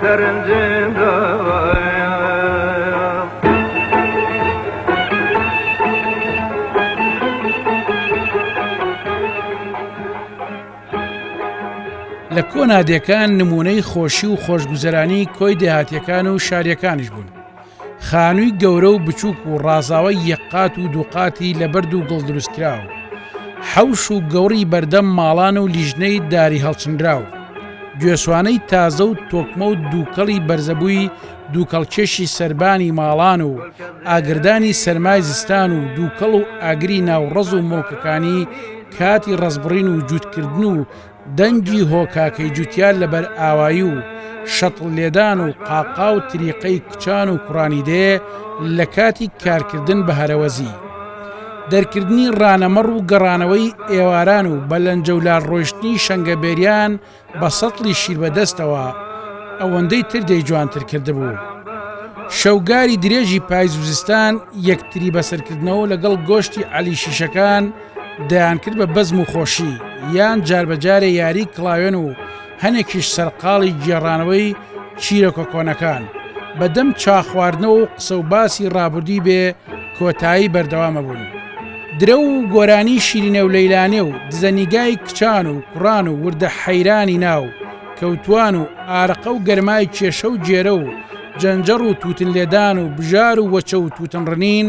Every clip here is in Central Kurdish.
سەرنجم داوایە. لە کۆنادێکان نموونەی خۆشی و خۆشگوزەرانی کۆی دێهاتیەکان و شاریەکانیش بوون. خانووی گەورە و بچووک و ڕازاوەی یەک قات و دوو قاتی لە بەرد و گڵ دروستکراو، حەوش و گەوڕی بەردەم ماڵان و لیژنەی داری هەڵچنراو، گوێسوانەی تازە و تۆکمە و دووکەڵی بەرزەبووی دووکەڵکێشی سەربانی ماڵان و ئاگردانی سەرمای زستان و دووکەڵ و ئاگری ناو ڕەز و مڵکەکانی کاتی ڕەزبڕین و جووتکردن و دەنگی هۆ کاکەی جوتیار لە بەر ئاوایی و شەتڵ لێدان و قاقا و تریقەی کچان و کوڕانی دێ لە کاتی کارکردن بە هەرەوەزی دەرکردنی ڕانەمەڕ و گەڕانەوەی ئێواران و بە لەنجەولار ڕۆیشتنی شەنگە بێریان بە سەتڵی شیر بە دەستەوە ئەوەندەی تر دەی جوانتر کردبوو. شەوگاری درێژی پایز و زستان یەکتری بەسەرکردنەوە لەگەڵ گۆشتی عەلی شیشەکان دەیانکرد بە بەزم و خۆشی، یان جاربەجارێ یاریی کڵاوێن و هەنێکیش سەرقاڵی گێڕانەوەی چیرۆکە کۆنەکان، بە دەم چا خواردنەوە و قسە و باسی ڕابردووی بێ کۆتایی بەردەوام ئەبوون. درەو و گۆرانیی شیرینێ و لەیلانێ و دزە نیگای کچان و کوڕان و وردە حەیرانی ناو کەوتوان و ئارەقە و گەرمای کێشە و گێرە و جەنجەڕ و تووتن لێدان و بژار و وەچە و تووتن ڕنین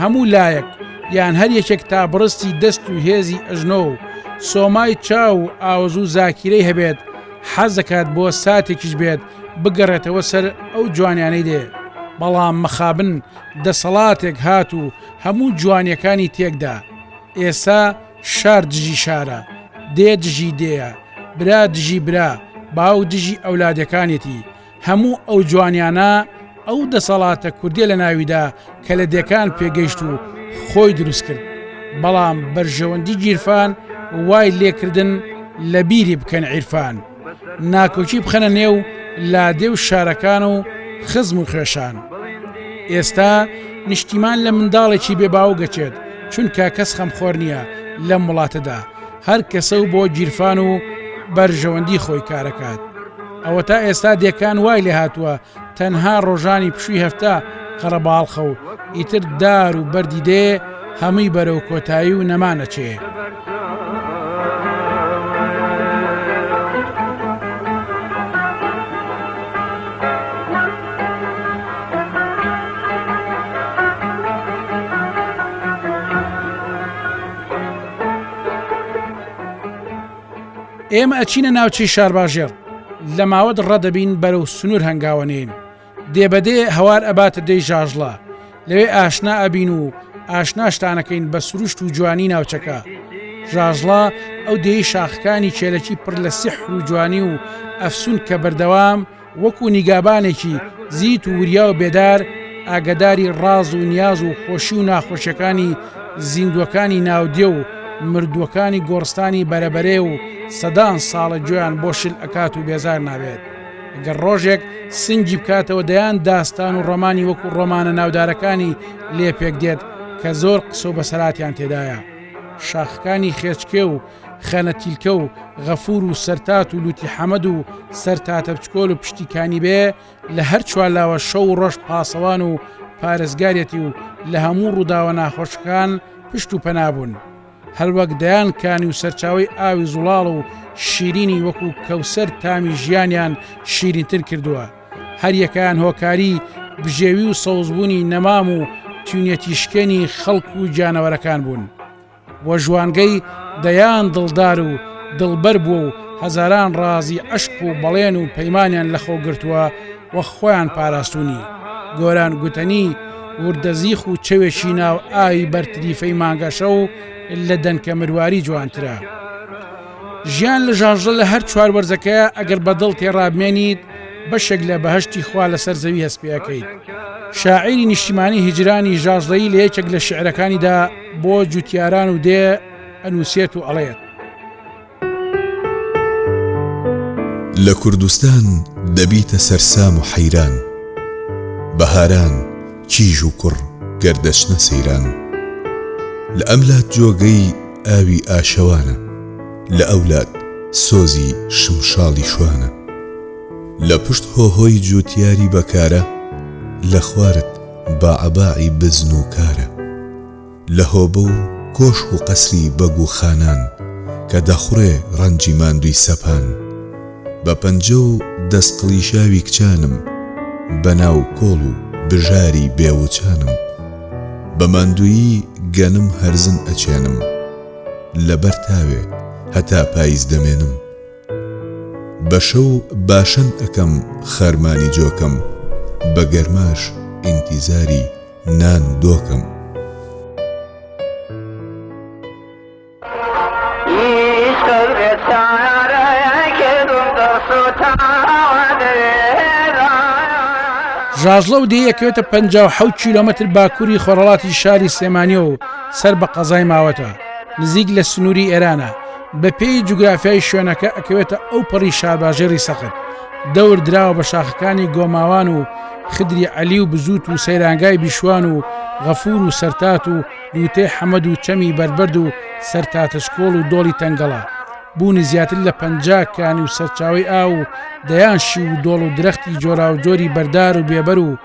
هەموو لایەک یان هەر یەکێک تا بڕستی دەست و هێزی ئەژنۆ و سۆمای چاو و ئاوەزوو زاکیرەی هەبێت حەز دەکات بۆ ساتێکیش بێت بگەڕێتەوە سەر ئەو جوانیانەی دێ بەڵام مەخابن دەسەڵاتێک هات و هەموو جوانیەکانی تێکدا ئێسا شار دژی شارە دێ دژی دێیە برا دژی برا باوک دژی ئەولادەکانێتی هەموو ئەو جوانیانە ئەو دەسەڵاتە کوردیە لە ناویدا کە لە دێکان پێگەیشت و خۆی دروست کرد بەڵام بەرژەوەندی گیرفان وای لێکردن لە بیری بکەن عیرفان ناکۆکی بخەنە نێو لادێ و شارەکان و خزم و خوێشان ئێستا نیشتیمان لە منداڵێکی بێباو گەچێت چونکە کەس خەمخۆر نییە لەم وڵاتەدا هەر کەسە و بۆ گیرفان و بەرژەوەندی خۆی کارەکات. ئەوەتا ئێستا دێکان وای لێ هاتووە تەنها ڕۆژانی پشووی هەفتە قەرەباڵخە و ئیتر دار و بەردی دێ هەمووی بەرەو کۆتایی و نەمان ئەچێ. ئێمە ئەچینە ناوچەی شارباژێڕ لە ماوەت ڕەدەبین بەرەو سنوور هەنگاوەنێین دێبەدێ هەوار ئەباتە دەی ژاژڵە لەوێ ئاشنا ئەبین و ئاشناشتانەکەین بە سروشت و جوانی ناوچەکە ژاژڵە ئەو دێی شاخەکانی چێلەکی پڕ لە سیح و جوانی و ئەفسون کە بەردەوام وەکو نیگابانێکی زیت و وریا و بێدار ئاگەداری ڕاز و نیاز و خۆشی و ناخۆشیەکانی زیندووەکانی ناودێ و مردووەکانی گۆڕستانی بەرەبەرێ و سەدان ساڵە گوێیان بۆ شل ئەکات و بێزار نابێت گەر ڕۆژێک سنگی بکاتەوە دەیان داستان و ڕۆمانی وەکو ڕۆمانە ناودارەکانی لێ پێک دێت کە زۆر قسە و بەسەراتیان تێدایە شاخەکانی خێچکێ و خەنە تیلکە و غەفور و سەرتات و لوتی حەمەد و سەر تاتە بچکۆل و پشتی کانی بێ لە هەر چوارلاوە شەو و ڕۆژ پاسەوان و پارێزگارەتی و لە هەموو ڕووداوە ناخۆشەکان پشت و پەنابوون. هەروەک دەیان کانی و سەرچاوی ئاوی زوڵاڵ و شیرینی وەکو کەوسەر تامی ژیانیان شیرینتر کردووە. هەریەکەیان هۆکاری بژێوی و سەوزبوونی نەمام و تونەتی شکێنی خەڵک و گیانەوەرەکان بوون. و ژوانگەی دەیان دڵدار و دڵبەر بووە و هەزاران ڕازی عەشق و بەڵێن و پەیمانیان لەخۆ گرتووە و خۆیان پاراستوونی. گۆران گوتەنی، وردە زیخ و چەوێکی ناو ئاوی بەر تریفەی مانگەشەو لە دەنکە مرواری جوانترە. ژیان لە ژاژڵە لە هەر چوار وەرزەکەیا ئەگەر بە دڵ تێڕابمێنیت بەشێک لە بەهەشتی خوا لەسەر زەوی هەست پێ ئەکەیت. شاعیری نیشتیمانی هیجرانی ژاژڵەیی لە یەکێک لە شیعرەکانیدا، بۆ جوتیاران و دێ ئەنووسێت و ئەڵێت. لە کوردستان دەبیتە سەرسام و حەیران. بەهاران، کیژ و کوڕ گەر دەچنە سەیران. لە ئەم لات جۆگەی ئاوی ئاشەوانە. لە ئەو لات سۆزی شمشاڵی شوانە. لە پشت هۆهۆی جوتیاری بەکارە، لە خوارت. باعباعی بزن و کارە لە هۆبە و کۆشک و قەسری بەگ و خانان کە دەخوڕێ ڕەنجی ماندووی سەپان بە پەنجە و دەست قڵیشاوی کچانم بە ناو کۆڵ و بژاری بێ وچانم بە ماندوویی گەنم هەرزن ئەچێنم لە بەر تاوێ هەتا پایز دەمێنم. بە شەو باشەن ئەکەم خەرمانی جۆکەم بە گەرماش ئینتیزاری نان و دۆکەم. ژاژڵە و دێی ئەکەوێتە پ حەوت کیلۆمەتر باکووری خۆرهەڵاتی شاری سلێمانیەوە و سەر بە قەزای ماوەتە نزیک لە سنووری ئێرانە بە پێی جوگرافیای شوێنەکە ئەکەوێتە ئەو پەڕی شارباژێڕی سەخت دەور دراوە بە شاخەکانی گۆماوان و خدری عەلی و بزووت و سەیرانگای بیشوان و غەفور و سەرتات و لوتێ حەمەد و چەمی بەربەرد و سەرتاتەشکۆڵ و دۆڵی تەنگەڵە بوونی زیاتر لە پ کانی و سەرچاوی ئا و دەیان شی و دۆڵ و درەختی جۆرا و جۆری بەردار و بێبەر و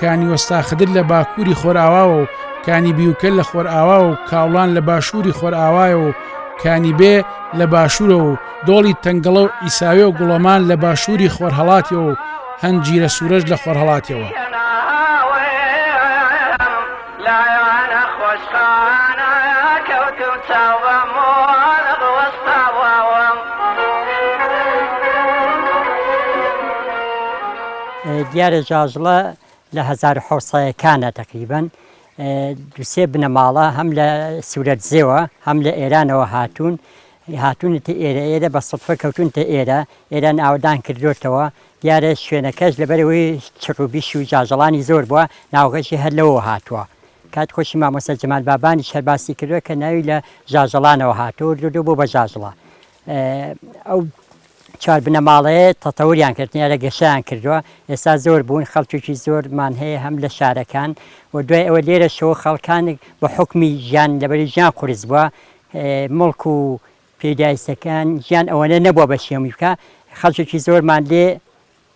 کانی وەستا خدر لە باکووری خۆرئاواوە و کانی بیوکە لە خۆرئاواوە و کاوڵان لە باشووری خۆرئاوایە و کانی بێ لە باشوورە و دۆڵی تەنگەڵە و ئیساوێ و گوڵەمان لە باشووری خۆرهڵاتەوە و هەنجیرە سوورەش لە خۆرهڵاتەوە. دیارە جاجڵە لە هەزار حەوسەکانە تەقریبەن دوسێ بنەماڵە هەم لە سوورەتزێوە هەم لە ئێرانەوە هاتوون هاتوونەتە ئێرە ئێرە بە سەفە کەوتونتە ئێرە ئێران ئاودان کردوێتەوە دیارە شوێنەکەش لەبەرەوەی چڕوبیش و جاجڵانی زۆر بووە ناوغەشی هەر لەوە هاتووە کات خۆشی مامۆستا جمال بابانی شەرباسی کردوە کە ناوی لە جاجڵانەوە هاتوو دو بۆ بە جاجڵە ئەو چوار بنەماڵەیە تەتەوریان کردنیە لە گەشەیان کردوە ئێستا زۆر بوون خەڵکێکی زۆر مان هەیە هەم لە شارەکان و دوای ئەوە لێرە شەوە خەڵکانێک بە حوکمی ژیان لەبەری ژیان قورس بووە مڵک و پیدایستەکان ژیان ئەوەنە نەبووە بە شێمی بکە خەڵکێکی زۆرمان لێ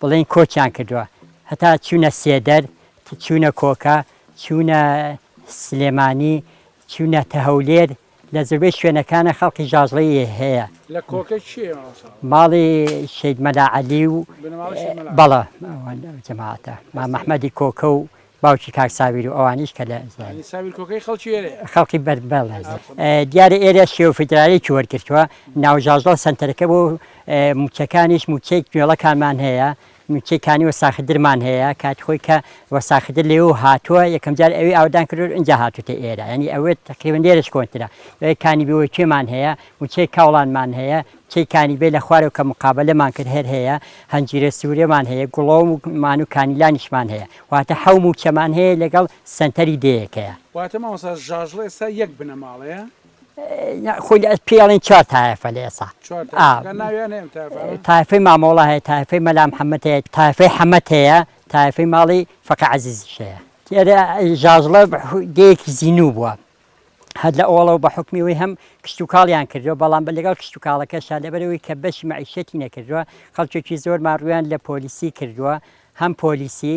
بڵێن کۆچیان کردووە هەتا چوونە سێدەر چوونە کۆکە چوونە سلێمانی چوونە تە هەولێر لە زۆربەی شوێنەکانە خەڵکی ژاژڵەی هەیە. لە کۆکە کێیە مامۆستا؟ ماڵی شەید مەلا عەلی و بنەماڵەی شەید مەلا عەلی. بەڵێ ئەوان ئەو جەماعەتە. مام ئەحمەدی کۆکە و باوکی کاک ساویر و ئەوانیش کە لە زێ. یانی ساویر کۆکەی خەڵکی ئێرەیە؟ خەڵکی بەر بەڵێ. دیارە ئێرە شێوە فیدراڵیەکی وەرگرتووە. ناو ژاژڵە سەنتەرەکە بۆ مووچەکانیش مووچەی کوێڵەکانمان هەیە مووچەی کانی وەساخدرمان هەیە کاتی خۆی کە وەساخدر لێوە هاتووە یەکەم جار ئەوێ ئاوەدان کردوە ئینجا هاتووتە ئێرە یانی ئەوێ تەقریبەن لێرەش کۆنترە ئەوێ کانی بیوەچێمان هەیە مووچەی کاوڵانمان هەیە مووچەی کانی بێ لە خوارەوە کە مقابەلەمان کرد هەر هەیە هەنجیرە سوورەمان هەیە گوڵەوم و مان و کانیلانیشمان هەیە واتە حەو مووچەمان هەیە لەگەڵ سەنتەری دێیەکەیە. واتە مامۆستا ژاژڵ ئێستا یەک بنەماڵەیە؟ خۆی ئەت پێی ئەڵێن چوار تایەفە لە ئێسا چوار تایفە. ئا. گەر ناویان هەیە ئەم تایفانە؟ تایفەی مامۆڵا هەیە، تایفەی مەلا محەممەد هەیە، تایفەی حەمەد هەیە، تایفەی ماڵی فەقێ عەزیزیش هەیە. دیارە ژاژڵە دێیەکی زینوو بووە. هەر لە ئەوەڵەوە بە حوکمی ئەوەی هەم کشتوکاڵیان کردووە، بەڵام لەگەڵ کشتوکاڵەکەشا لەبەر ئەوەی کە بەشی مەعیشەتی نەکردووە، خەڵکێکی زۆرمان ڕوویان لە پۆلیسی کردووە، هەم پۆلیسی،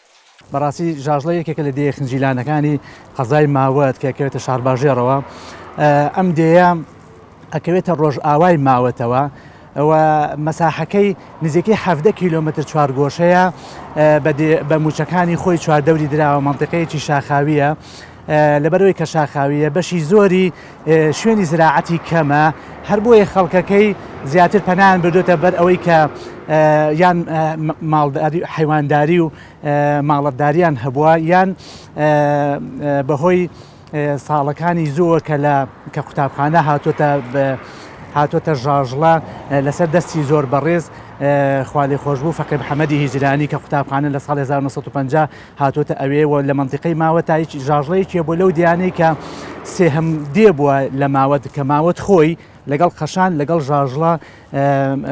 بەڕاستی ژاژڵە یەکێکە لە دێیە خنجیلانەکانی قەزای ماوەت کە کەوێتە شارباژێڕەوە ئەم دێە ئەکەوێتە ڕۆژئاوای ماوەتەوە ئەوە مەساحەکەی نزیکەی حەفدە کیلومتر چوارگۆشەیە بە موچەکانی خۆی چواردەوری دراوە منطقەیەکی شاخاویە لەبەرەوەی کە شاخاویە بەشی زۆری شوێنی زراعەتی کەمە هەر بۆیە خەڵکەکەی زیاتر پەنایان بردوێتە بەر ئەوەی کە یان حیوانداری و ماڵەتداریان هەبووە یان بەهۆی ساڵەکانی زووە کە لە کە قوتابخانە هاتوتە هاتوتە ژاژڵە لەسەر دەستی زۆر بەڕێز خالی خۆشببوو فەقێ حەمەدی هیجرانی کە قوتابخانە لە ساڵ 1950 هاتۆتە ئەوێ و لە مەنتیقەی ماوە تا هیچ ژاژڵەیەکیە بۆ لەو دیانەی کە سێهەم دێ بووە لە ماوەت کە ماوەت خۆی لەگەڵ قەشان لەگەڵ ژاژڵە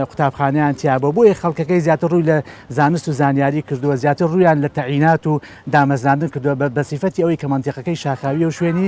قوتابخانیان تیابە بۆیە خەڵکەکەی زیاتر ڕووی لە زانست و زانیاری کردووە زیاتر ڕویان لە تەعینات و دامەزراندن کردووە بە بەسیفەتی ئەوەی کە منتیقەکەی شاخاویە و شوێنی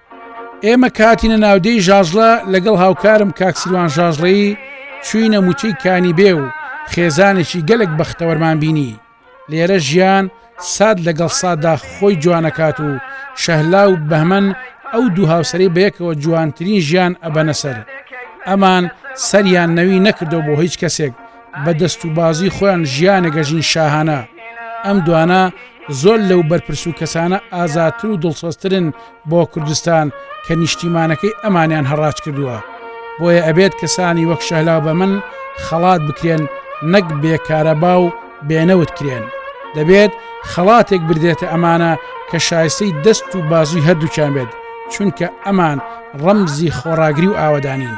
ئێمە کە هاتینە ناودێی ژاژڵە لەگەڵ هاوکارم کاک سیروان ژاژڵەیی چوینە موچەی کانی بێ و خێزانێکی گەلک بەختەوەرمان بینی لێرە ژیان ساد لەگەڵ سادا خۆی جوانەکات و شەهلا و بەهمەن ئەو دوو هاوسەری بەیەکەوە جوانترین ژیان ئەبەنە سەر ئەمان سەریان نەوی نەکردەوە بۆ هیچ کەسێک بە دەست و بازی خۆیان ژیانە گەژین شاهانە ئەم دوانە زۆر لەو بەرپرس و کەسانە ئازاتر و دڵسۆسترن بۆ کوردستان کە نیشتیمانەکەی ئەمانیان هەڕاج کردووە بۆیە ئەبێت کەسانی وەک شەهلا بە من خەڵات بکرێن نەک بێکارەبا و بێنەوت کرێن دەبێت خەڵاتێک بردێتە ئەمانە کە شایستەی دەست و بازوی هەردووچان بێت چونکە ئەمان ڕەمزی خۆڕاگری و ئاوەدانین.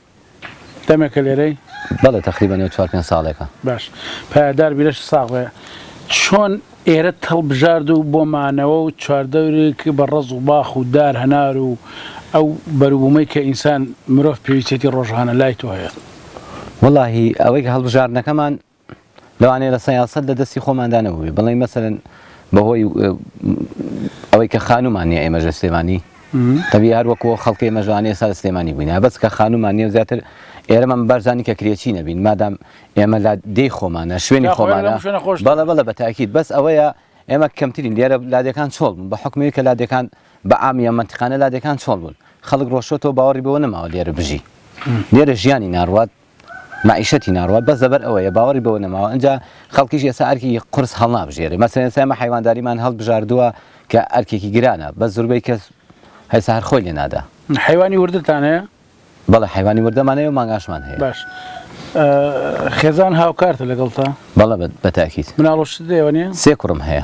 دەمێکە لێرەی؟ بەڵێ تەقریبا نێو چوار پێنج ساڵێکە. باش پایەدار بی لەش ساغ بێ چۆن ئێرەت هەڵبژارد و بۆ مانەوە و چواردەورێک بە ڕەز و باخ و دار هەنار و ئەو بەروبوومەی کە ئینسان مرۆڤ پێویستێتی ڕۆژانە لای تۆ هەیە؟ وەڵاهی ئەوەی کە هەڵبژاردنەکەمان لەوانەیە لە سەیاسەت لە دەستی خۆماندا نەبووبێ بڵێین مەسەلەن بە هۆی ئەوەی کە خانوومان نییە ئێمەژ لە سلێمانی تەبی هەر وەکو خەڵکی ئێمە ژوانێ سا لە سلێمانی بووین بەس کە خانوومان نیە زیاتر ئێرەمە بەرزانانی کە کرێچی نەبین مادام ئێمە لا دێی خۆمانە شوێنی خۆمانە بەڵە بەڵە بە تاکیت بەس ئەوەیە ئێمە کەمترین لێرە لادەکان چۆڵ بوون بە حکومی کە لادەکان بە ئامیە منتیقانە لادەکان چۆڵ بوون خەڵک ڕۆشتەوە باوەڕی بەوە نەماوە لێرە بژی لێرە ژیانی ناڕوات مەعیشەتی ناڕوات بەس لەبەر ئەوەیە باوەڕی بەوە نەماوە ئنجا خەڵکیش ئێستا ئەرکی قورس هەڵنابژێرێ مەسەلەن ئێستا ئێمە حەیوانداریمان هەڵبژاردووە کە ئەرکێکی گرانە بەس زوربەی کەس هەستا هەر خۆی لێنادا. حەیوانی وردتان هەیە؟ بەڵێ حەیوانی وردەمان هەیە و مانگاشمان هەیە. باش خێزان هاوکارتە لەگەڵتا؟ بەڵێ بە تاکید. مناڵ و شت لێوە نیە؟ سێ کوڕم هەیە.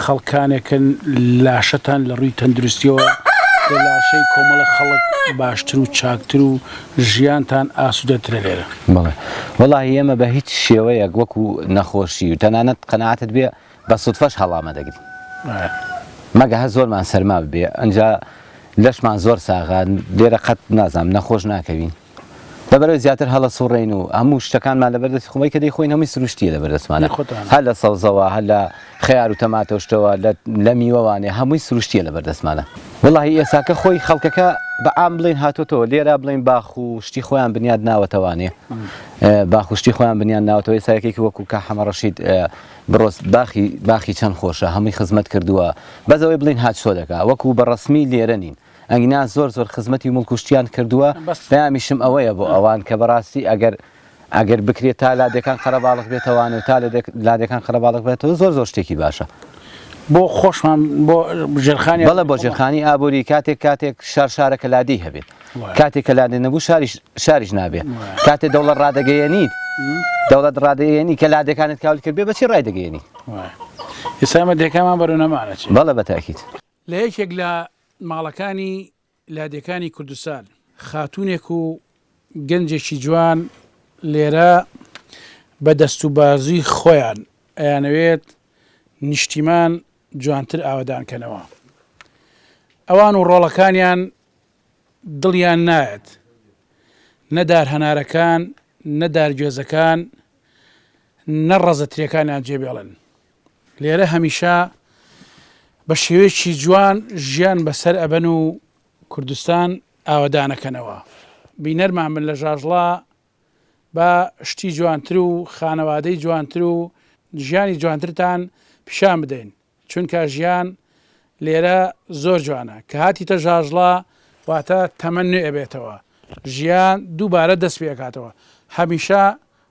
خەڵکانێکن لاشەتان لە ڕووی تەندروستیەوە لە لاشەی کۆمەڵە خەڵک باشتر و چاکتر و ژیانتان ئاسودەترە لێرە. بەڵێ وەڵاهی ئێمە بە هیچ شێوەیەک وەکو نەخۆشی و تەنانەت قەناعەتت بێ بە سوتفەش هەڵا مەدەگرین مەگە هەر زۆرمان سەرما ببێ ئەنجا لەشمان زۆر ساغە لێرە قەت نازانم نەخۆش ناکەوین. لەبەرەوەی زیاتر هەڵەسوڕێین و هەموو شتەکانمان لەبەر دەستی خۆی کە دەیخۆین هەمووی سروشتیە لەبەر دەستمانە هەر لە سەوزەوە هەر لە خەیار و تەماتۆشتەوە لە میوەوانێ هەمووی سروشتیە لەبەر دەستمانە وڵی ئێساکە خۆی خەڵکەکە بە ئام بڵین هاتوتەوە لێرا بڵین باخ و شتی خۆیان بنیاد ناوەتەوانێ باخشتی خۆیان بنیان ناوەوەی سایەکێکی وەکو کە حەمەڕەشید بڕۆست باخی باخی چەند خۆشە هەمووی خزمەت کردووە بەزەوەی بڵین هاچۆ دەکە وەکو بە ڕسمی لێرە نین ئەگینا زۆر زۆر خزمەتی مڵک و شتیان کردووە پامیشم ئەوەیە بۆ ئەوان کە بەڕاستی ئەگەر ئەگەر بکرێت تا لادەکان قەرەباڵغ بێتەوانێت تا لادەکان قەرەباڵغ بێتەوە زۆر زۆر شتێکی باشە بۆ خۆشمان بۆ ژێرخانی بەڵە بۆ ژێرخانی ئابووری کاتێک کاتێک شار شارەکە لادی هەبێت کاتێک کە لادێ نەبوو شاریش شاریش نابێت کاتێ دەوڵە ڕادەگەیەنیت دەوڵەت ڕادەیەنی کە لادەکانت کاول کرد بێ بەچی ڕای دەگەیەنی ئێسامە دەکەمان بەرەو نەمانە بەڵە بەتاکیت لە یەکێک لە ماڵەکانی لادێکانی کوردستان، خاتوونێک و گەنجێکی جوان لێرە بە دەست و بازووی خۆیان ئەیانەوێت نیشتیمان جوانتر ئاوەدان کەنەوە. ئەوان و ڕۆڵەکانیان دڵیان نایەت، نە دارهەنارەکان، نە دارگوێزەکان، نە ڕەزە ترێکانیان جێبێڵن. لێرە هەمیشە بە شێوەیەکی جوان ژیان بەسەر ئەبەن و کوردستان ئاوەدانەکەنەوە بینەرمان من لە ژاژڵا بە شتی جوانتر و خانەوادەی جوانتر و ژیانی جوانترتان پیشان بدەین چونکە ژیان لێرە زۆر جوانە کە هاتی تە ژاژڵا واتە تەمە نوێ ئەبێتەوە ژیان دووبارە دەست پێکاتەوە هەمیشە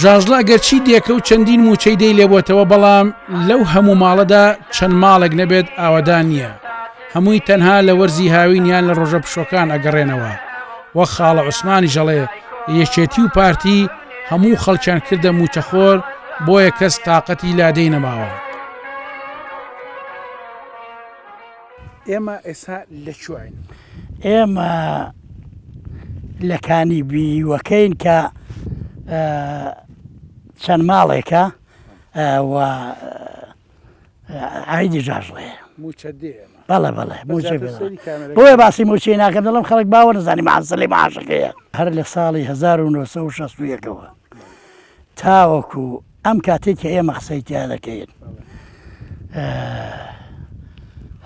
ژاژڵە گەرچی دێکە و چەندین موچەی دەی لێبتەوە بەڵام لەو هەموو ماڵەدا چەند ماڵێک نەبێت ئاوەدان نییە هەمووی تەنها لە وەرزی هاوینیان لە ڕۆژە پشۆکان ئەگەڕێنەوە وە خاڵە عوسمانی ژەڵێ یەکێتی و پارتی هەموو خەڵکیان کردە موچەخۆر بۆیە کەس تااقەتی لادەی نەماوە. ئێمە ئێسا لە کوێین؟ ئێمە لە کانی بیوەکەین کە چەند ماڵێکە و ئایدی جاژڵێ بەڵێ بەڵێ بۆیە باسی موچی ناکەم دەڵم خەڵک باوە نزانانی ماسلی ماشەکەیە هەر لە ساڵی 1960ەوە تاوەکو ئەم کاتەی کە ئێمە قسەی تیا دەکەین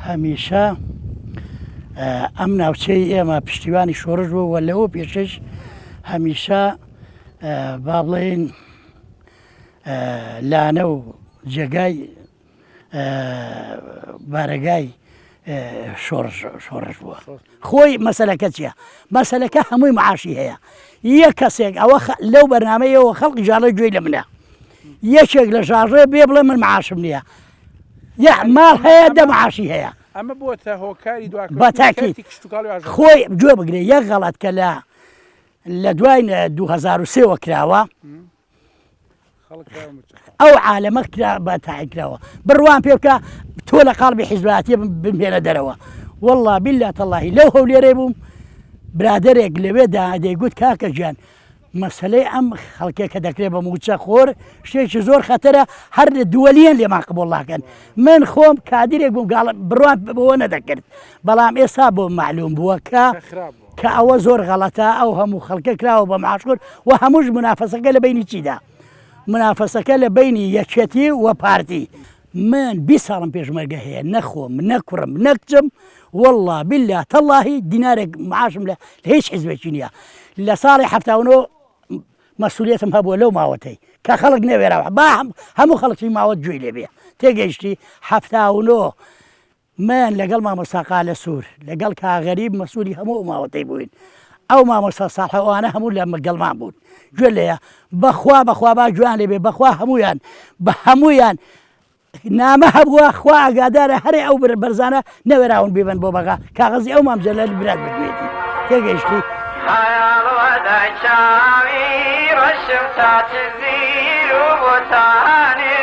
هەمیشە ئەم ناوچەی ئێمە پشتیوانی شۆڕش بوو وە لەوە پێشش هەمیشە با بڵێین لانە و جێگای بارەگای شۆڕش بووە خۆی مەسلەکە چییە مەسلەکە هەمووی معاشی هەیە یە کەسێک ئەوە لەو بەرنمەیەوە خەڵکی ژاڵە گوێی لە منە یەکێک لە ژاڕێ بێ بڵێ من معاشم نییە یا ماڵ هەیە دە معاشی هەیە ئەمە بۆتە هۆکاری دو بەتاکی خۆی گوێ بگرێ یەک غەڵەت کە لە لە دوای 2023ەوە کراوە ئەو عالەمە کرا بە تاعیکراوە بڕوان پێ بکە تۆ لە قاڵبی حیزباتی بمێنە دەرەوە والله بالله تەڵاهی لەو هەولێرێ بووم برادێک لەوێ دادەیگوت کاکە گیان مەسلەی ئەم خەڵکێک کە دەکرێت بە موچە خۆر شتێکی زۆر خەتەرە هەر دووەلیان لێمان قبڵڵاکەن من خۆم کادرێک بووم گاڵ بڕوان بەوە نەدەکرد بەڵام ئێستا بۆ معلوم بووە کە کە ئەوە زۆر غەڵەتە ئەو هەموو خەڵکە کراوە بە معاشکرد و هەمووش منافەسەکە لە بینی چیدا منافەسەکە لە بینی یەکێتی و پارتی من بی ساڵم پێشمەرگە هەیە نەخۆم نەکوڕم نەکچم والله بالله تەڵاهی دینارێک معاشم لە هیچ حزبێکی نییە لە ساڵی هەفتاونەوە مەسوولەتم هەبووە لەو ماوەتەی کە خەڵک نەوێراوە با هەموو خەڵکی ماوەت گوێی لێبێ تێگەیشتی هەفتاونەوە مەیان لەگەڵ مامۆستا قالە سور لەگەڵ کاک غەریب مەسولی هەموو ئەو ماوەتەی بووین ئەو مامۆستا سالحە ئەوانە هەموو لە گەڵمان بوون گوێ لێە بەخوا بەخوا با گوێیان لێ بێ بەخوا هەموویان بە هەموویان نامە هەبووە خوا ئاگادارە هەرێ ئەو بر بەرزانە نەوێراون بیبن بۆ بەغا کاغەزی ئەو مامجە لە برات بگوێتی تێگەیشتی ڕەشم تا چزیر و بۆتانێ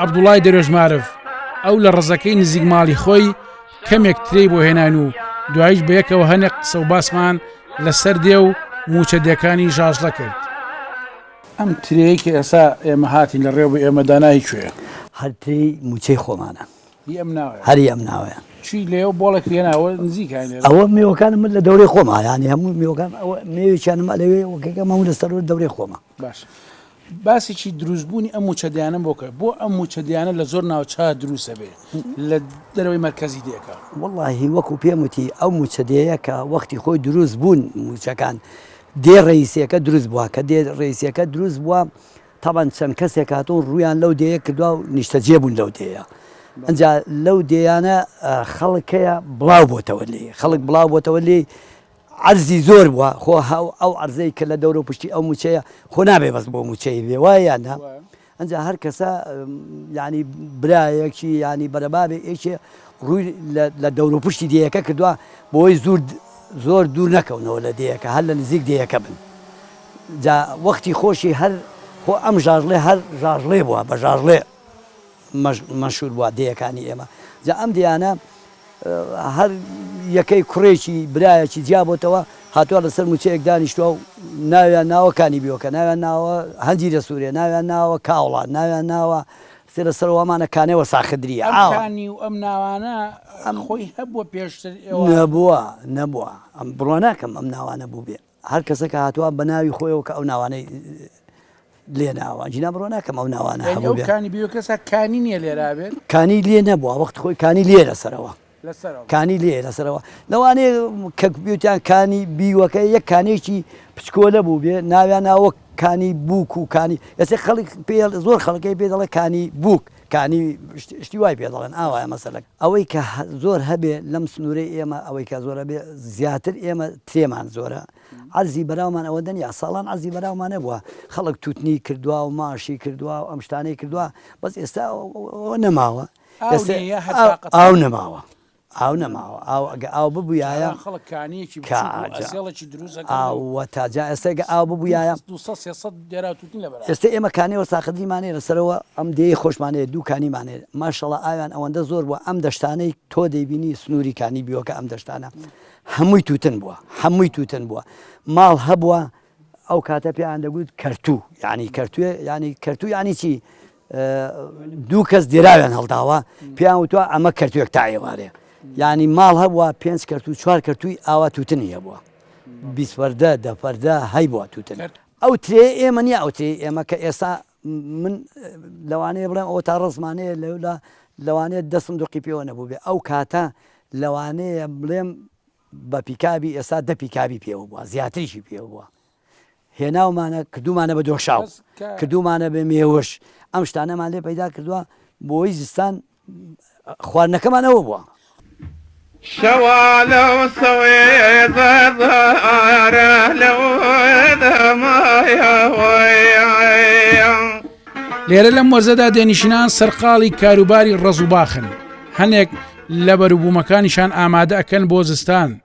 عەبدوڵای دەرێژمارف، ئەو لە ڕزەکەی نزیک ماڵی خۆی کەمێک ترێی بۆ هێناین و دواییش بەیەکەوە هەنێک قسە و باسمان لەسەر دێ و مووچە دێکانی ژاژڵە کرد. ئەم ترێیەی کە ئێستا ئێمە هاتین لە ڕێوە بۆ ئێمە دانا هی کوێیە؟ هەر ترێی مووچەی خۆمانە. هی ئەم ناوەیە؟ هەر هی ئەم ناوەیە. چی لێ و بۆڵێک لێ ناوە نزیکە لێرە؟ ئەوە مێوەکانم من لە دەورەی خۆمە یانی هەموو مێوەکان ئەوە مێوێکیانم ئەلەوێ وەکەکەم هەموو لە سەروو دەورەی خۆمە. باشە. باسێکی دروست بوونی ئەم مووچە دێیانەم بۆ کرد بۆ ئەم مووچە دێیانە لە زۆر ناوچە دروستە بێ لە دەرەوەی مەرکەزی دێکە. وەڵاهی وەکو پێم وتی ئەو مووچە دێیە کە وەختی خۆی دروست بوون مووچەکان دێ ڕەیسیەکە دروست بووە کە دێ ڕەیسیەکە دروست بووە تەبەن چەند کەسێک هاتوون ڕوویان لەو دێیە کردووە و نیشتەجێ بوون لەو دێیە ئەجا لەو دێیانە خەڵکەیە بڵاو بۆتەوە لێ خەڵک بڵاو بۆتەوە لێی عەرزی زۆر بوە خۆ ئەو عەرزەی کە لە دەورو پشتی ئەو موچەیە خۆ نابێ بەس بۆ موچەی بێ وایە یان نا ئەنجا هەر کەسە یانی برایەکی یانی بەرەبابێ ئێکێ ڕووی لە دەورو پشتی دێیەکە کردوە بۆی زور زۆر دوور نەکەونەوە لە دێیەکە هەر لە نزیک دێیەکە بن جا وەختی خۆشی هەر خۆ ئەم ژاژڵێ هەر ژاژڵێ بوە بە ژاژڵێ مەشهور بوە دێیەکانی ئێمە جا ئەم دێیانە هەر یەکەی کوڕێکی برایەکی جیا بۆتەوە هاتوە لەسەر موچەیەک دانیشتوە و ناویان ناوە کانی بیۆکە ناویان ناوە هەنجی لە سورێ ناویان ناوە کاوڵان ناویان ناوە سێ لە سەروامانە کانێ وە ساخدری ئاوانی و ئەم ناوانە ئەم خۆی هەبوە پێشتر ئێوە نەبوە نەبوە ئەم بڕوا ناکەم ئەم ناوانە بوبێ. هەر کەسەک هاتوە بە ناوی خۆیەوە کە ئەو ناوانەی لێ ناوە جینا بڕوا ناکەم ئەو ناوانە یانی هەموو ئەو بێ کانی بێ کەسە کانی نییە لێرا بێت کانی لێ نەبووە وەخت خۆی کانی لێ لەسەرەوە لەسەرەوە کانی لێ لەسەرەوە لەوانەیە کە بیوتیان کانی بیوەکە یەک کانێکی پچکۆلە بوو بێ ناویان ناوە کانی بووک و کانی ئێستا خەڵک پێ زۆر خەڵکەکەی پێ دەڵێ کانی بووک کانی شتی وای پێ دەڵێن ئاوایە مەسەلەکە ئەوەی کە زۆر هەبێ لەم سنورەی ئێمە ئەوەی کە زۆر هەبێ زیاتر ئێمە ترێمان زۆرە عەرزی بەراومان ئەوە دەنیا ساڵان عەرزی بەراومان نەبووە خەڵک توتنی کردووە و ماشی کردووە و ئەم شتانەی کردووە بەس ئێستا ئەوە نەماوە ئاو نەماوە ئاو نەماوە ئاو گە ئاو ببویایە کا ئاجا ئاو وەتا جا ئێستا گە ئاو ببویایە ئێستا ئێمە کانێ وەساخدری مانێ لە سەرەوە ئەم دێی خۆشمانێ دوو کانی مانێ ماشەڵا ئاویان ئەوەندە زۆر بووە ئەم دەشتانەی تۆ دەیبینی سنووری کانی بیوەکە ئەم دەشتانە هەمووی تووتن بووە هەمووی تووتن بووە ماڵ هەبووە ئەو کاتە پێیان دەگوت کەرتوو یعنی کەرتوێ ینی کەرتوو ینی چی دوو کەس دێراویان هەڵداوە پێیان وتوە ئەمە کەرتوێک تا ئێوارەیە یعنی ماڵ هەبووە پێنج کەرت و چوار کەرتووی ئاوا توتنی هەبووە بیسپەردە دەپەردە هەی بووە توتن ئەو ترێ ئێمە نیە ئەو ترێ ئێمە کە ئێستا من لەوانەیە بڵێم ئەوە تا ڕزمانەیە لەولا لەوانێت دەستم دوقی پێوە نەبوو بێ ئەو کاتە لەوانەیە بڵێم بە پیکابی ئێستا دە پیکابی پێوە بووە زیاتریشی پێوە بووە هێناومانە کردومانە بە دۆشاو کردومانە بە مێوش ئەم شتانەمان لێ پەیدا کردووە بۆی زستان خواردنەکەمان ئەوە بووە شەوالە سەوێدەدارە لەو لێرە لەم وەرزەدا دێنیشنان سەرقاڵی کاروباری ڕز و باخن هەنێک لە بەروبوومەکانیشان ئامادە ئەکەن بۆ زستان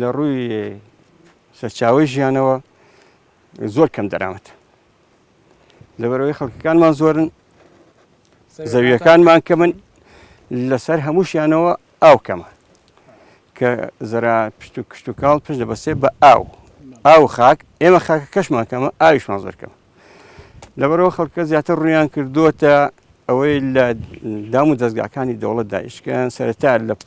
لە ڕووی سەرچاوەی ژیانەوە زۆر کەم دەرامەت لەبەرەوەی خەڵکەکانمان زۆرن زەویەکانمان کە من لەسەر هەمووشیانەوە ئاو کەمە کە زەرا پشت و کشت و کاڵ پشت دەبەسێ بە ئاو ئاو خاک ئێمە خاکە کەشمان کەمە ئاویشمان زۆر کەمە لەبەرەوە خەڵکە زیاتر ڕویان کردووە ئەوەی لە دام و دەستگاکانی دەوڵەت دایشکیان سەرەتا لە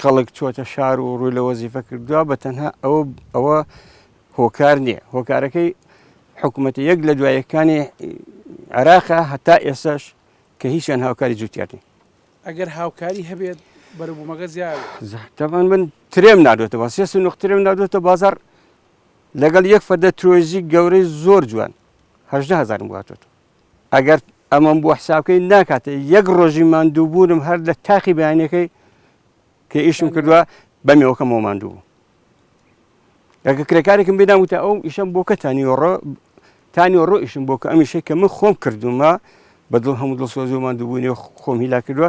خەڵک چۆتە شار و ڕووی لە وەزیفە کردووە بە تەنها ئەوە ئەوە هۆکار نییە هۆکارەکەی حکوومەت یەک لە دوایەکانی عراقا هەتا ئێسش کە هیچیان هاوکاری جوتیاتن ئەگەر هاوکاری هەبێت بەرەبوومەگە زیاتەبان من ترێم نادۆتەوە سێ سنوق ترێم نادۆتە بازار لەگەڵ یەک فەردە ترۆزی گەورەی زۆر جوان هەهزار واتێت ئەگەر ئەمەم بۆ حساب بکەین ناکاتێ یەک ڕۆژی ماندووبوونم هەر لە تاقی بەیانەکەی کە ئیشم کردووە بەمێوەکەمەوە ماندوو بوو ئەگە کرێکارێکم بێدام وتە ئەو ئیشم بۆ کە تانیۆڕۆ تانیۆڕۆ ئیشم بۆ کە ئەمیشەی کە من خۆم کردومە بە دڵ هەموو دڵسۆزیمان دووبوونی خۆم هیلا کردووە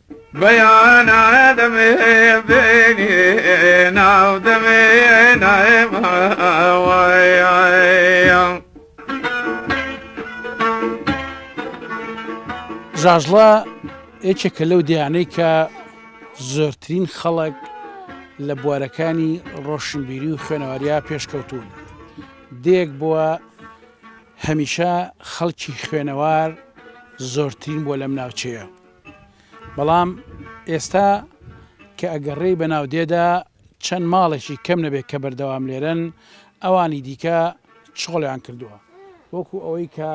بەیانە دەمێنێ ناو دەمێنە ماوەیان ژاژڵە یەکێکە لەو دیانەی کە زۆرترین خەڵک لە بوارەکانی ڕۆشنبیری و خوێنەواریا پێشکەوتون دێک بووە هەمیشە خەڵکی خوێنەوار زۆرترین بۆ لەم ناوچەیە بەڵام ئێستا کە ئەگەڕێی بە ناودێدا چەند ماڵێکی کەم نەبێت کە بەردەوام لێرەن ئەوانی دیکە چۆڵیان کردووە وەکو ئەوەی کە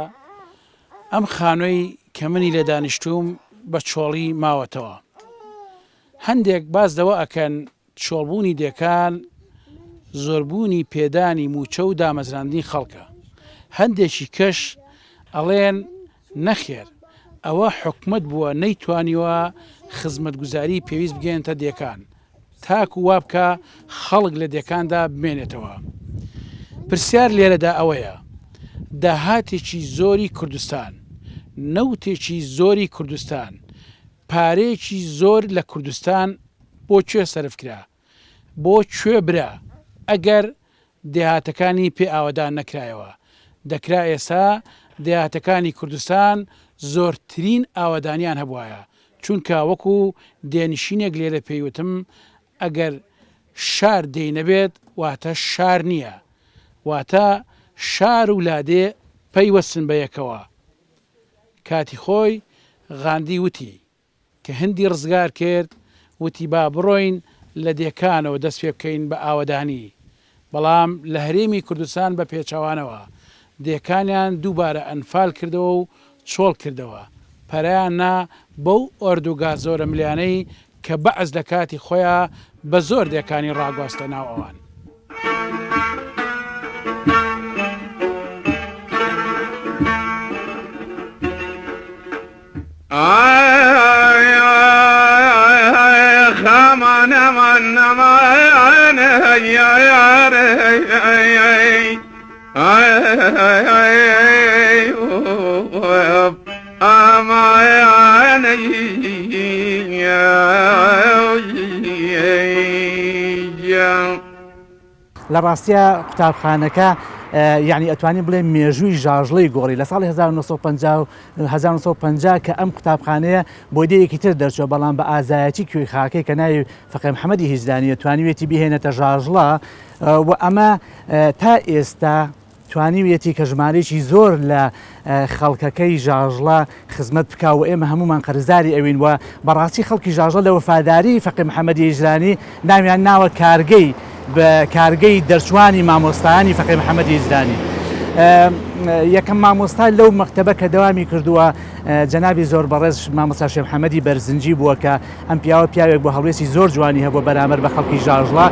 ئەم خانۆی کە منی لە دانیشتوم بە چۆڵی ماوەتەوە هەندێک باز دەوە ئەکەن چۆڵبوونی دێکان زۆربوونی پێدانی مووچە و دامەزراندنی خەڵکە، هەندێکی کەش ئەڵێن نەخێر ئەوە حکومەت بووە نەیتوانیوە خزمەتگوزاری پێویست بگەیەنتە دێکان تاکو وابکا خەڵک لە دێکاندا بمێنێتەوە. پرسیار لێرەدا ئەوەیە داهاتێکی زۆری کوردستان، نەوتێکی زۆری کوردستان، پارەیەکی زۆر لە کوردستان بۆ کوێ سەرف کرا؟ بۆ کوێ برا؟ ئەگەر دێهاتەکانی پێ ئاوەدان نەکرایەوە، دەکرا ئێستا دێهاتەکانی کوردستان زۆرترین ئاوەدانیان هەبوایە، چونکە وەکو دێنشینێک لێرە پێی وتم، ئەگەر شار دێی نەبێت واتە شار نییە، واتە شار و لادێ پەیوەستن بە یەکەوە. کاتی خۆی غاندی وتی کە هندی ڕزگار کرد وتی با بڕۆین لە دێکانەوە دەست پێ بکەین بە ئاوەدانی بەڵام لە هەرێمی کوردستان بە پێچەوانەوە دێکانیان دووبارە ئەنفال کردەوە و چۆڵ کردەوە پەرەیان نا بەو ئۆردوگا زۆرەملیانەی کە بەعس لە کاتی خۆیا بە زۆر دێکانی ڕاگواستە ناو ئەوان. لە ڕاستیا قوتابخانەکە یعنی ئەتوانی بڵێ مێژووی ژاژڵی گۆڕی لە ساڵی 1950 کە ئەم قوتابخانەیە بۆ دەیەکی تر دەرچوە بەڵام بە ئازایەتی کوێی خاکەی کە ناوی فەقێ محەمەدی هیجدانیە توانیوێتی بهێنێتە ژاژڵە و ئەمە تا ئێستا توانیویەتی کە ژمارەیەکی زۆر لە خەڵکەکەی ژاژڵە خزمەت بکا و ئێمە هەمومان قەرزداری ئەوین وە بەڕاستی خەڵکی ژاژە لە وەفاداری فەقی محەممەدی ئیجرانی ناویان ناوە کارگەی بە کارگەی دەرچوانی مامۆستایانی فەقی محەممەدی ئیجرانی. یەکەم مامۆستا لەو مەکتتەبە کە دەوامی کردووە جەنابی زۆر بەڕێز مامۆساشێ محەممەدی بەرزنجی بووە کە ئەم پیاوە پیاوێک بوو هەڵوێستی زۆر جوانی هەبووە بەرامبەر بە خەڵکی ژاژڵە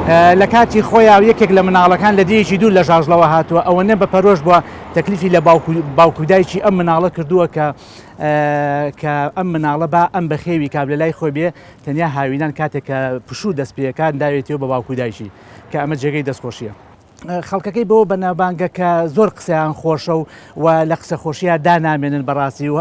لە کاتی خۆیا و یەکێک لە مناڵەکان لە دێیەکی دوور لە ژاژڵەوە هاتووە ئەوەنە بە پەرۆش بووە تەکلیفی لە باوکودایکی ئەم مناڵە کردووە کە کە ئەم مناڵە با ئەم بەخێوی کاب لە لای خۆی بێ تەنیا هاوینان کاتێک کە پشوو دەست پێەکان داوێتەوە بە باوکودایکی کە ئەمە جێگەی دەستخۆشیە. خەڵکەکەی بەوە بەناوبانگە کە زۆر قسەیان خۆشە و و لە قسە خۆشیە دا نامێنن بەڕاستی و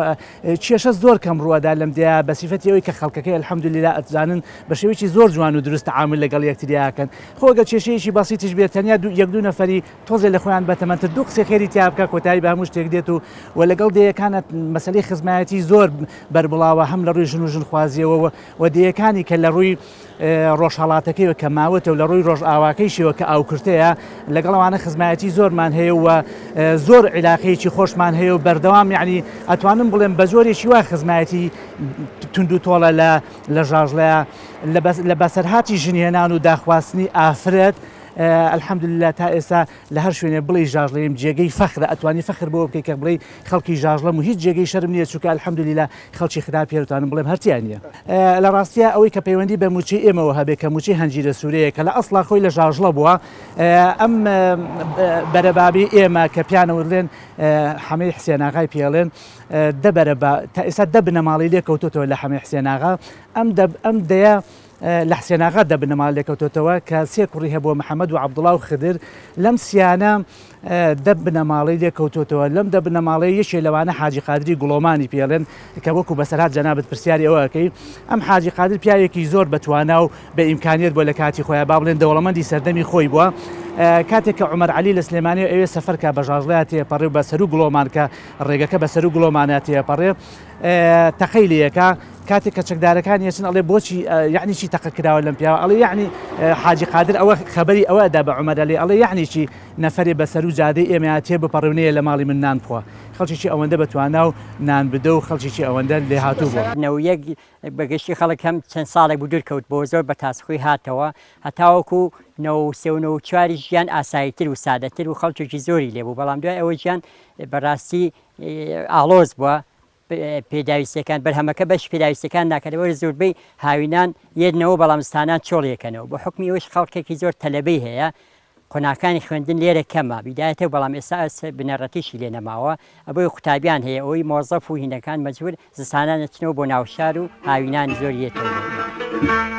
کێشە زۆر کەم ڕووەدا لەم دیا بە سیفەتی ئەوی کە خەڵکەکەی الحەمدللا ئەتزانن بە شێوەیەکی زۆر جوان و دروست عامل لەگەڵ یەکتریاکەن خۆگە کێشەیەکی بەسیتیش بێت تەنیا دوو یەک دوو نەفەری تۆزێ لە خۆیان بەتەمەنتر دوو قسەی خێری تیا بکە کۆتایی بە هەموو شتێک دێت و و لەگەڵ دەیەکانە مەسەلەی خزمایەتی زۆر بەربڵاوە هەم لە ڕووی ژن و ژنخوازیەوە و دەیەکانی کە لە ڕووی ڕۆژهەڵاتەکەی و کە ماوەتە و لە ڕووی ڕۆژئاواکەیشیەوە کە ئاوکرتەیە لەگەڵ ئەوانە خزمایەتی زۆرمان هەیە و زۆر عیلاقەیەکی خۆشمان هەیە و بەردەوام یعنی ئەتوانم بڵێم بە جۆرێکی وا خزمایەتی تونند و تۆڵە لە لە ژاژڵەیە لە بەسەرهاتی ژنهێنان و داخواستنی ئافرەت الحمدللە تا ئێستا لە هەر شوێنێ بڵێی ژاژڵەیەم جێگەی فەخرە ئەتوانی فەخر بەوە بکەی کە بڵێی خەڵکی ژاژڵەم و هیچ جێگەی شەرم نییە چونکە الحمدللە خەڵکی خراپ هەیە دەتوانم بڵێم هەر تیا نییە. لە ڕاستیا ئەوەی کە پەیوەندی بە مووچەی ئێمەوە هەبێت کە مووچەی هەنجیرە سوورەیە کە لە ئەسڵا خۆی لە ژاژڵە بووە، ئەم بەرە بابی ئێمە کە پیانە ورلێن حەمەی حسێناغای پێڵێن دە بەرە با تا ئێستا دە بنەماڵی لێ کەوتوتەوە لە حەمەی حسێناغا ئەم دە ئەم دەیە لە حسێناغا دە بنەماڵ لێکەوتوتەوە کە سێ کوڕی هەبووە محەممەد و عەبدوڵا و خدر لەم سیانە دە بنەماڵەی لێ کەوتۆتەوە، لەم دە بنەماڵەیە یەکێ لەوانە حاجی قادری گوڵۆمانی پێڵێن کە وەکوو بەسەرهات جەنابت پرسیاری ئەوە ئەکەی. ئەم حاجی قادر پیاوێکی زۆر بە توانا و بە ئیمکانیەت بووە لە کاتی خۆیا با بڵێن دەوڵەمەندی سەردەمی خۆی بووە. کاتێک کە عومەر عەلی لە سلێمانیەوە ئەوێ سەفەر کا بە ژاژڵەیا تێپەڕێ و بە سەروو گڵۆمان کە ڕێگەکە بە سەروو گڵۆمانا تێپەڕێ تەقەی لێ ئەکا. کاتێک کە چەکدارەکانی ئەچن ئەڵێ بۆچی یەعنی چی تەقە کراوە لەم پیاوە؟ ئەڵێ یەعنی حاجی قادر ئەوە خەبەری ئەوە ئەدا بە عومەر عەلی ئەڵێ یەعنی چی؟ نەفەرێ بە سەرو جادەی ئێمەیا تێ بپەڕێ و نەیە لە ماڵی من نان بخوا. خەڵکێکی ئەوەندە بە توانا و نان بدە و خەڵکێکی ئەوەندە لێهاتوو بووم. نەوە یەک بە گشتی خەڵک هەم چەند ساڵێک بوو دوور کەوت بۆوە زۆر بە تاسخوی هاتەوە هەتاوەکوو نەوە و سێ و نەوە و چواریش ژیان ئاسایی تر و سادە تر و خەڵکێکی زۆری لێ بوو بەڵام دوای ئەوە ژیان بە ڕاستی ئاڵۆز بووە پێداویستیەکان، بەرهەمەکە بەشی پێداویستیەکان ناکات لەبەر زۆربەی هاوینان یەدنەوەو بەڵام زتانان چۆڵ یەکەنەوە بە حوکمی ئەوەیش خەڵکێکی زۆر تەلەبەی هەیە قۆناخەکانی خوێندن لێرە کەمە بیدایەتەو بەڵام ئێستا ئەس بنەڕەتیشی لێ نەماوە ئەبۆیە قوتابیان هەیە ئەوەی مۆزەف و هینەکان مەجبور زستانان ئەچنەوە بۆ ناوشار و هاوینانی زۆر یەتەوە بۆ ئێرە.